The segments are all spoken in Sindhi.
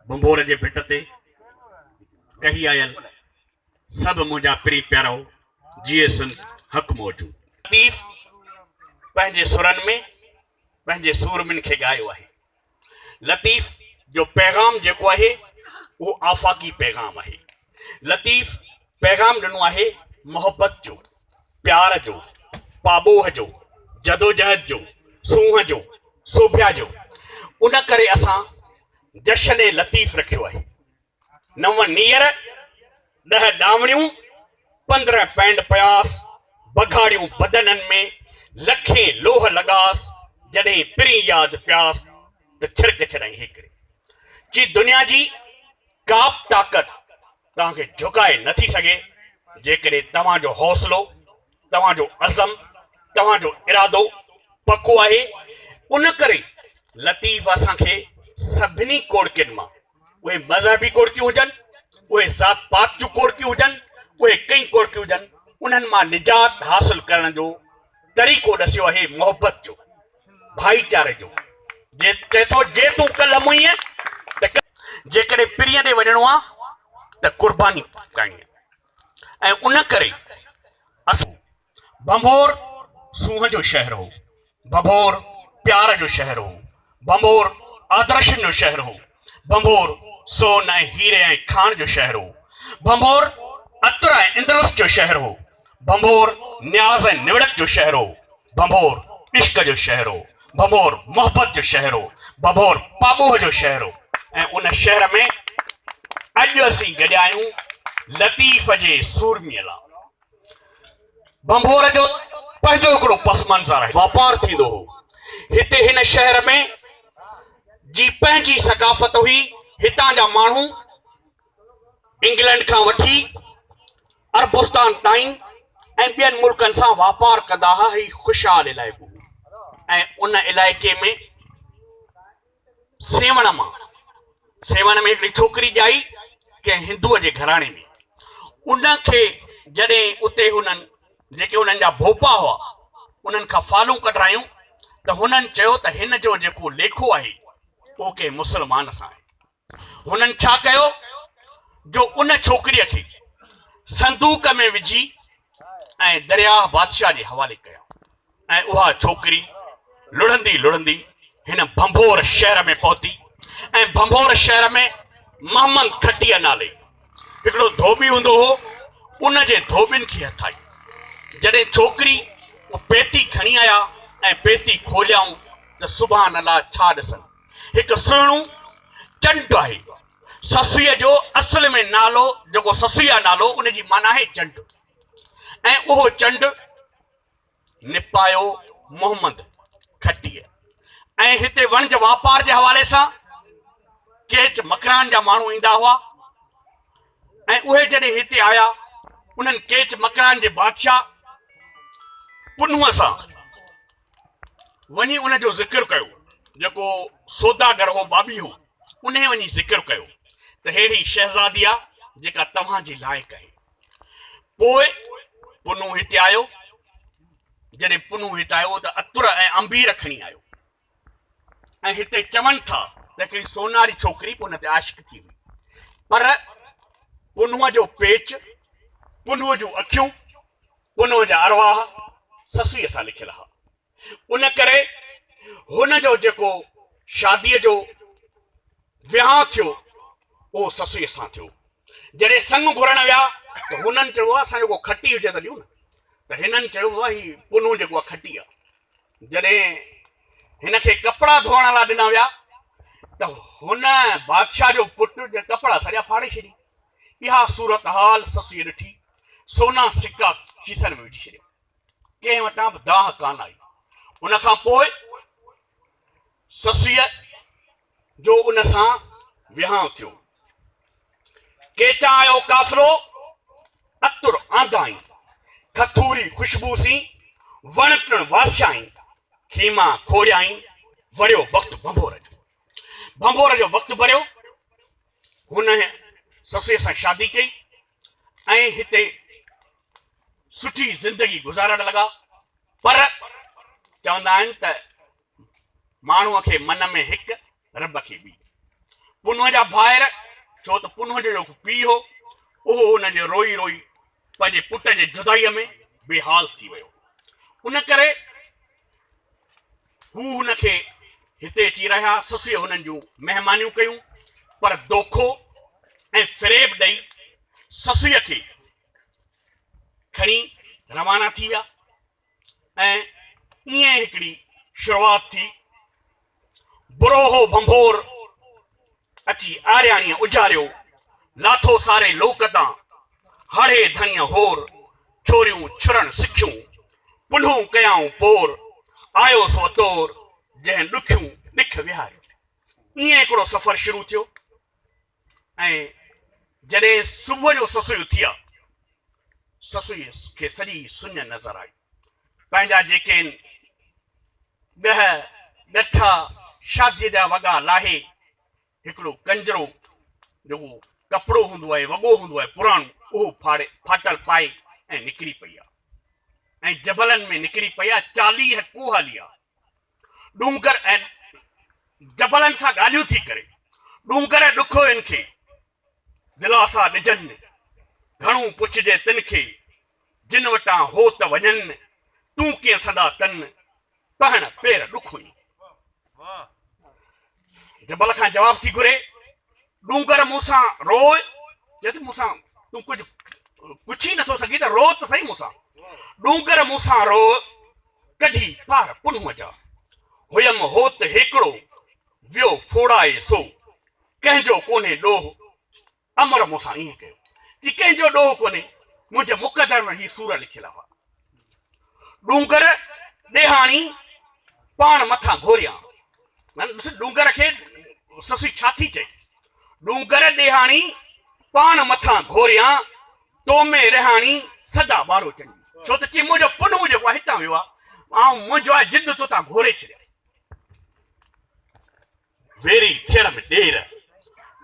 ڀنڀور جي ڀٽ تي ڪهي آيل سڀ منهنجا پرين پيارائو جيئي سنڌ حق موجود. لطيف پنهنجي سرن ۾ پنهنجي سورمين کي ڳايو آهي. لطيف جو پيغام جيڪو آهي اهو آفاقي پيغام آهي. لطيف پيغام ڏنو آهي محبت جو، پيار جو، پاٻوهه جو، جدوجهد جو، سونهن جو، سوڀيا جو. ان ڪري اسان جشن لطيف رکيو آهي. نو نيئر، ڏهه ڏاوڻيون، پندرهن پينڊ پياس، بگهاڙيون بدنن ۾، لکين لوهه لڳاس، جڏهين پرين ياد پياس ته ڇرڪ ڇڏائين هيڪڙي. چي دنيا جي. ڪابه طاقت توهان کي جهڪائي نه ٿي سگهي جيڪڏهن توهان جو حوصلو، توهان جو عزم، توهان جو ارادو پڪو آهي، ان ڪري لطيف اسان کي سڀني ڪوڙڪين مان اهي مذهبي ڪوڙڪيون هجن، اهي ذات پات جون ڪوڙڪيون هجن، اهي ڪئين ڪوڙڪيون هجن انهن مان نجات حاصل ڪرڻ جو طريقو ڏسيو آهي محبت جو. ڀائيچاري جو چئي ٿو جي تون ڪلهه مئي ته ڪلهه جيڪڏهن پرينء ڏي وڃڻو آ ته قرباني ڪرڻي آ ۽ ان ڪري اسان ڀنڀور سونهن جو شهر هو ڀنڀور پيار جو شهر هو ڀنڀور آدرشن جو شهر هو. ڀنڀور سون ۽ هيري ۽ کاڻ جو شهر هو. ڀنڀور عطر ۽ اندلس جو شهر هو. ڀنڀور نياز ۽ نوڙت جو شهر هو. ڀنڀور عشق جو شهر هو. ڀنڀور محبت جو شهر هو. ڀنڀور پاٻوهه جو شهر هو ۽ ان شهر ۾ اڄ اسين گڏيا آهيون لطيف جي سورميء لاء. ڀنڀور جو پنهنجو هڪڙو پس منظر آهي. واپار ٿيندو هو. هتي هن شهر ۾ جي پنهنجي ثقافت هئي. هتان جا ماڻهو انگلنڊ کان وٺي عربستان تائين ۽ ٻين ملڪن سان واپار ڪندا ها. هي خوشحال علائقو هو ۽ ان علائقي ۾ سيوهڻ مان سيوهڻ ۾ هڪڙي ڇوڪري ڄائي ڪنهن هندوء جي گهراڻي ۾ ان کي جڏهن اتي هنن جيڪي انهن جا ڀوپا هئا انهن کان فالون ڪڍرايون ته هنن چيو ته هن جو جيڪو ليکو آهي اهو ڪنهن مسلمان سان آهي هنن ڇا ڪيو جو ان ڇوڪريء کي صندوق ۾ وجهي ۽ درياهه بادشاهه جي حوالي ڪيائون ۽ اها ڇوڪري لڙهندي لڙهندي هن ڀنڀور شهر ۾ پهتي ۽ ڀنڀور شهر ۾ محمد کٽيء نالي هڪڙو ڌوٻي هوندو هو، ان جي ڌوٻين کي هٿ آئي. جڏهن ڇوڪري ڪو پيتي کڻي آيا ۽ پيتي کوليائون ته سبحان الله ڇا ڏسن، هڪ سهڻو چنڊ آهي. سسئيء جو اصل ۾ نالو جيڪو سسئي آهي نالو ان جي معنيٰ آهي چنڊ ۽ اهو چنڊ، نپايو محمد کٽيء ۽ هتي وڻج واپار جي حوالي سان ڪيچ مڪران جا ماڻهو ايندا هئا ۽ اهي جڏهن هتي آيا انهن ڪيچ مڪران جي بادشاهه پنهونء سان وڃي ان جو ذڪر ڪيو جيڪو سوداگر هو بابي هو انهي وڃي ذڪر ڪيو ته ههڙي شهزادي آ جيڪا توهان جي لائق آهي پوء پنهون هتي آيو. جڏهن پنهون هتي آيو ته عطر ۽ عنبير کڻي آيو ۽ هتي چون ٿا ته هڪڙي سوناري ڇوڪري به ان تي عاشق ٿي هئي پر پنهون جو پيچ، پنهون جون اکيون، پنهون جا ارواح سسئيء سان لکيل ها. ان ڪري هن جو جيڪو شاديء جو ويهان ٿيو، اهو سسئيء سان ٿيو. جڏهن سڱ گهرڻ ويا ته هنن چيو بابا اسان جو ڪو کٽي هجي ته ڏيو نه. ته هنن چيو بابا هي پنهون جيڪو آهي کٽي آهي. جڏهن هن کي ڪپڙا ڌوئڻ لاء ڏنا ويا ته هن بادشاهه جو پٽ جا ڪپڙا سڄا ڦاڙي ڇڏي. اها صورتحال سسئيء ڏٺي، سونا سڪا کيسن ۾ وجهي ڇڏيا. ڪنهن وٽان به دانهن ڪانه آئي. ان کان پوء سسيء جو ان سان ويهانء ٿيو. ڪيچان آيو ڪافرو عطر آندائين، کٿوري خوشبوء سين وڻ ٽڻ واسيائين، خيما کوڙيائين، وريو وقت ڀنڀور جو. ڀنڀور جو وقت ڀريو، هن سسيء سان شادي ڪئي ۽ هتي سٺي زندگي گذارڻ لڳا پر چوندا آهن ته ماڻهو کي من ۾ هڪ رب کي ٻي پنهون جا ڀائر ڇو ته پنهون جو جيڪو پيء هو اهو ان جي روئي روئي پنهنجي پٽ جي جدائيء ۾ بي حال ٿي ويو ان ڪري هو هن کي هتي اچي رهيا سسيء هنن جون مهمانيون ڪيون پر دوکو ۽ فريب ڏئي سسيء کي کڻي روانا ٿي ويا ۽ ائين هڪڙي شروعات ٿي بروهو ڀنڀور اچي آرياڻيء اجاريو لاٿو ساري لوڪ تان هاڙهي ڌڻيء هور ڇوريون ڇرڻ سکيون پنهون ڪيائون پور آيو سو اطور جنهن ڏکيون ڏک وهاريو ائين هڪڙو سفر شروع ٿيو ۽ جڏهن صبح جو سسئي اٿي آ، سسئي کي سڄي سڃ نظر آئي. پنهنجا جيڪين ڳهه ڳٺا، شاديء جا وڳا لاهي، هڪڙو ڪنجرو جيڪو ڪپڙو هوندو آهي، وڳو هوندو آهي پراڻو، اهو ڦاڙي ڦاٽل پائي ۽ نڪري پئي آ ۽ جبلن ۾ نڪري پئي آ، چاليهه ڪوهه هلي آ. ڏونگر ۽ جبلن سان ڳالهيون ٿي ڪري، ڏونگر ۽ ڏکوين کي دلاسا ڏجن، گهڻو پڇجي تن کي، جن وٽان هو ته وڃن، تون ڪيئن سندا تن، پهڻ پير ڏکوين. جبل کان جواب ٿي گهري، ڏونگر مون سان روء، چوي ٿي مون سان تون ڪجهه پڇي نه ٿو سگهين ته روء ته سهي مون سان، ڏونگر مون سان روء، ڪڍي پار پنهونء جا، هئم هوت هيڪڙو، ويو ڦوڙائي سو، ڪنهن جو ڪونهي ڏوهه، امر مون سان ائين ڪيو جي ڪنهن جو ڏوهه ڪونهي، منهنجي مقدر ۾ هي سور لکيل هئا. ڏونگر ڏيهاڻي پاڻ مٿان گهوريان. ڏس ڏونگر کي سسئي ڇا ٿي چئي. ڏونگر ڏيهاڻي پاڻ مٿان گهوريان، تو ۾ رهاڻي سدا ٻارو چڱي. ڇو ته چي منهنجو پنهون جيڪو آهي هتان ويو آهي. آئون منهنجو آهي جد تو تان گهوري ڇڏيان. ويري ٿيڻ ۾ ڏير،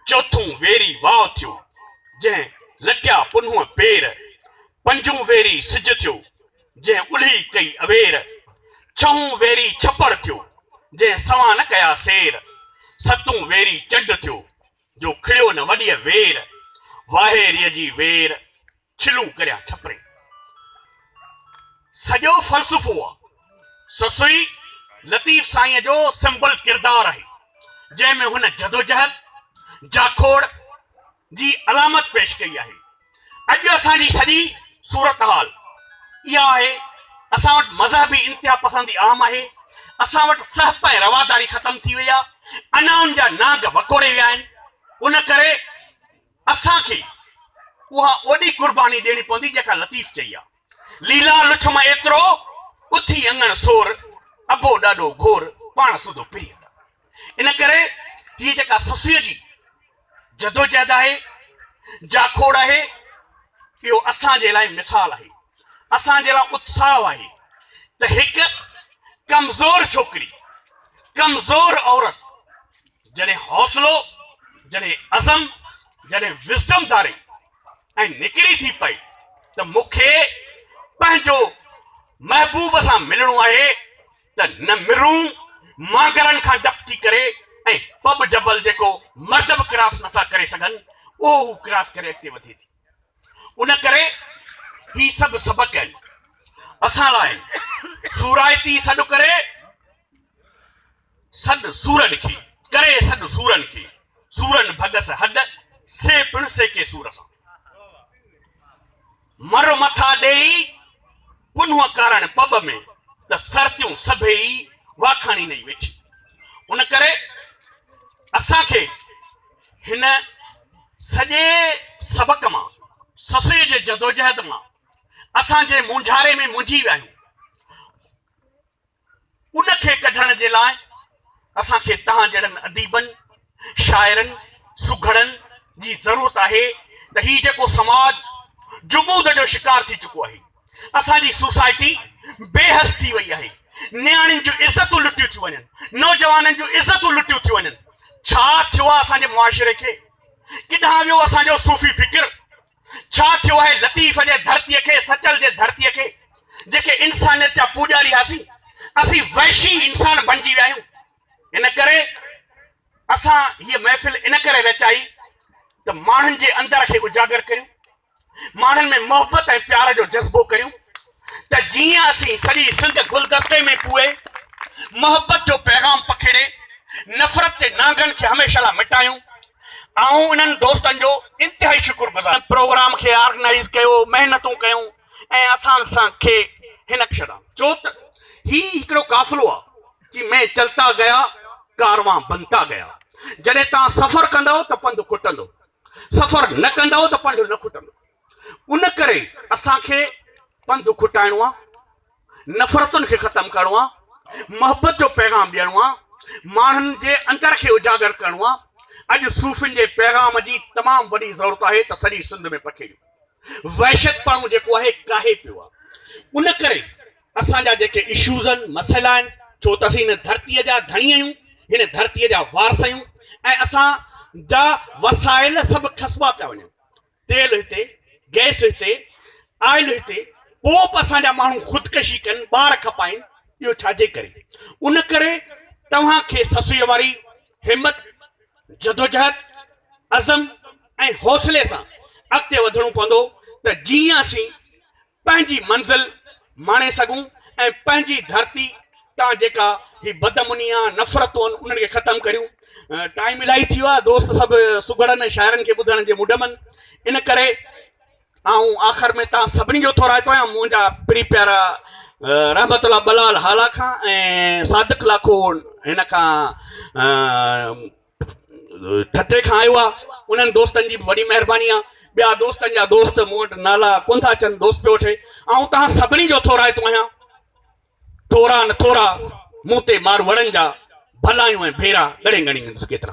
چوٿون ويري واء ٿيو، جنهن لٽيا پنهونء پير، پنجون ويري سج ٿيو، جنهن الهي ڪئي اوير، ڇهون ويري ڇپڙ ٿيو، جنهن سوان نه ڪيا سير، ستون ويري چنڊ ٿيو، جو کڙيو نه وڏيء وير، واهيريء جي وير. ڇلون ڪريان ڇپري سڄو فلسفو آ. سسئي لطيف سائينء جو سمبل ڪردار آهي، جنهن ۾ هن جدوجهد، جاکوڙ، جي علامت پيش ڪئي آهي. اڄ اسان جي سڄي صورتحال اها آهي. اسان وٽ مذهبي انتها پسندي عام آهي. اسان وٽ سهپ ۽ رواداري ختم ٿي وئي آ. انا ان جا نانگ وڪوڙي ويا آهن. ان ڪري. اسان کي اها اوڏي قرباني ڏيڻي پوندي جيڪا لطيف چئي آ. ليلا لڇ مان ايترو، اٿي اڱڻ سور، ابو ڏاڏو گهور، پاڻ سوڌو پريت آ. ان ڪري هيء جيڪا سسئيء جي جدوجهد آهي، جاکوڙ آهي، اهو اسان جي لاء مثال آهي، اسان جي لاء اتساهه آهي ته هڪ ڪمزور ڇوڪري، ڪمزور عورت، جڏهن حوصلو، جڏهن عزم، جڏهن Wisdom ڌاري ۽ نڪري ٿي پئي ته مون کي پنهنجو محبوب سان ملڻو آهي ته نه مرون مانگرن کان ڊپ ٿي ڪري ۽ پٻ جبل جيڪو مرد به ڪراس نٿا ڪري سگهن اهو هو ڪراس ڪري اڳتي وڌي ٿي. ان ڪري هي سڀ سبق آهن اسان لاء آهن سورائتي سڏ ڪري. سڏ سورن کي، ڪري سڏ سورن کي، سورن ڀڳس هڏ، سي پڻ سيڪي سور سان. مر مٿا ڏيئي، پنهون ڪارڻ پٻ ۾، ته سرتيون سڀيئي، واکاڻي نئي ويٺيون. ان ڪري اسان کي هن سڄي سبق مان، سسئي جي جدوجهد مان، اسان جنهن مونجهاري ۾ مونجهي ويا آهيون، ان کي ڪڍڻ جي لاء اسان کي توهان جهڙن اديبن، شاعرن، سگهڙن جي ضرورت آهي ته هي جيڪو سماج جمود جو شڪار ٿي چڪو آهي، اسان جي سوسائٽي بي حس ٿي وئي آهي، نياڻين جون عزتون لٽيون ٿيون وڃن، نوجوانن جون عزتون لٽيون ٿيون وڃن، ڇا ٿيو آهي اسان جي معاشري کي؟ ڪيڏانهن ويو اسان جو صوفي فڪر؟ ڇا ٿيو آهي لطيف جي ڌرتيء کي، سچل جي ڌرتيء کي، جيڪي انسانيت جا پوڄاري هئاسين، اسين وحشي انسان بڻجي ويا آهيون. ان ڪري اسان هيء محفل ان ڪري رچائي ته ماڻهن جي اندر کي اجاگر ڪريون، ماڻهن ۾ محبت ۽ پيار جو جذبو ڪريون، ته جيئن اسين سڄي سنڌ گلدستي ۾ پوئي محبت جو پيغام پکيڙي نفرت جي نانگن کي هميشه لاء مٽايون. آئون انهن دوستن جو انتهائي شڪر گذار آهيان. پروگرام کي آرگنائيز ڪيو، محنتون ڪيون ۽ اسان سان کي هن ڪشن. چو ته هي هڪڙو قافلو آ جي مين چلتا گيا ڪاروان بنتا گيا جڏهن توهان سفر ڪندؤ ته پنڌ کٽندو سفر نه ڪندؤ ته پنڍ نه کٽندو. ان ڪري اسان کي پنڌ کٽائڻو آ نفرتن کي ختم ڪرڻو آ محبت جو پيغام ڏيڻو آ ماڻهن جي اندر کي اجاگر ڪرڻو آ اڄ صوفين جي پيغام جي تمام وڏي ضرورت آهي ته سڄي سنڌ ۾ پکيڙيو وحشت پڻو جيڪو آهي ڪاهي پيو آ ان ڪري اسان جا جيڪي اشوز آهن مسئلا آهن ڇو ته اسين هن ڌرتي جا ڌڻي آهيون هن ڌرتي جا وارث آهيون ۽ اسان جا وسائل سڀ کسبا پيا وڃن تيل هتي، گئس هتي، آئل هتي، پوء به اسان جا ماڻهو خودڪشي ڪن، ٻار کپائين، اهو ڇا جي ڪري؟ ان ڪري توهان کي سسئيء واري همت، جدوجهد، عزم ۽ حوصلي سان اڳتي وڌڻو پوندو ته جيئن اسين پنهنجي منزل ماڻي سگهون ۽ پنهنجي ڌرتي تان جيڪا هي بدامنيا نفرتون آهن انهن کي ختم ڪريون ٽائيم الائي ٿي ويو آهي دوست سڀ سگهڙن ۽ شاعرن کي ٻڌڻ جي مڊ من ان ڪري آئون آخر ۾ تان سڀني جو ٿورائتو آهيان منهنجا پري پيارا رحمت الله بلال هالا کان ۽ صادق لاکو هن کان ٺٽي کان آيو آ انهن دوستن جي به وڏي مهرباني آ ٻيا دوستن جا دوست مون وٽ نالا ڪونٿا اچن دوست پيو وٺي آئون تهان سڀني جو ٿورائتو آهيان ٿورا نه ٿورا مون تي ماروئڙن جا ڀلايون ۽ ڀيرا ڳڙي ڳڻي ڏيندس ڪيترا